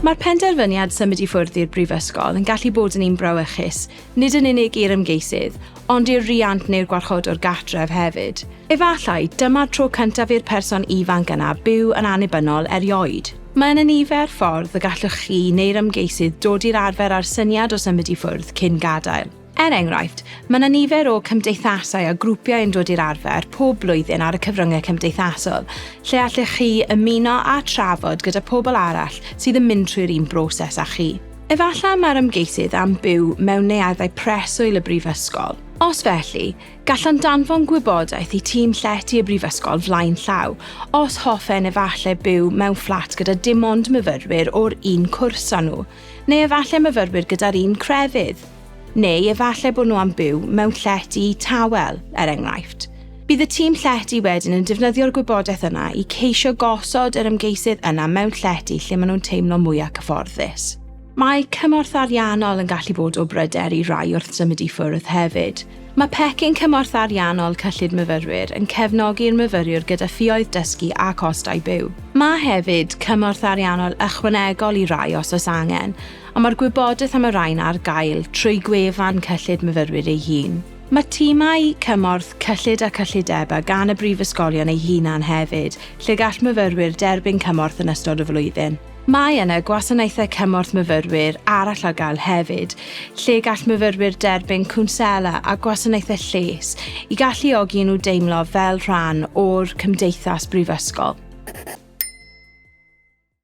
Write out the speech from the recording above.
Mae'r penderfyniad symud i ffwrdd i'r Brifysgol yn gallu bod yn un brawychus, nid yn unig i'r ymgeisydd, ond i'r riant neu'r gwarchodwr gartref hefyd. Efallai, dyma'r tro cyntaf i'r person ifanc yna byw yn annibynnol erioed. Mae yna nifer ffordd y gallwch chi neu'r ymgeisydd dod i'r arfer â'r syniad o symud i ffwrdd cyn gadael. Er enghraifft, mae yna nifer o cymdeithasau a grwpiau yn dod i'r arfer pob blwyddyn ar y cyfryngau cymdeithasol, lle allech chi ymuno a trafod gyda phobl arall sydd yn mynd trwy'r un broses â chi. Efallai mae'r ymgeisydd am byw mewn neuaddau preswyl y brifysgol. Os felly, gallwn danfon gwybodaeth i tîm llety y brifysgol flaen llaw, os hoffen efallai byw mewn fflat gyda dim ond myfyrwyr o'r un cwrs â nhw. Neu efallai myfyrwyr gyda'r un crefydd. Neu efallai bod nhw am byw mewn llety tawel, er enghraifft. Bydd y tîm llety wedyn yn defnyddio'r gwybodaeth yna i ceisio gosod yr ymgeisydd yna mewn llety lle maen nhw'n teimlo mwyaf cyfforddus. Mae cymorth ariannol yn gallu bod o bryder i rai wrth symud i ffwrdd hefyd. Mae Pecyn Cymorth Ariannol Cyllid Myfyrwyr yn cefnogi'r myfyriwr gyda ffioedd dysgu a chostau byw. Mae hefyd cymorth ariannol ychwanegol i rai os oes angen, ond mae'r gwybodaeth am y rhain ar gael trwy gwefan Cyllid Myfyrwyr ei hun. Mae timau cymorth cyllid a cyllidebau gan y brifysgolion eu hunain hefyd, lle gall myfyrwyr derbyn cymorth yn ystod y flwyddyn. Mae yna gwasanaethau cymorth myfyrwyr arall ar gael hefyd, lle gall myfyrwyr derbyn cwnsela a gwasanaethau lles i galluogi nhw deimlo fel rhan o'r cymdeithas brifysgol.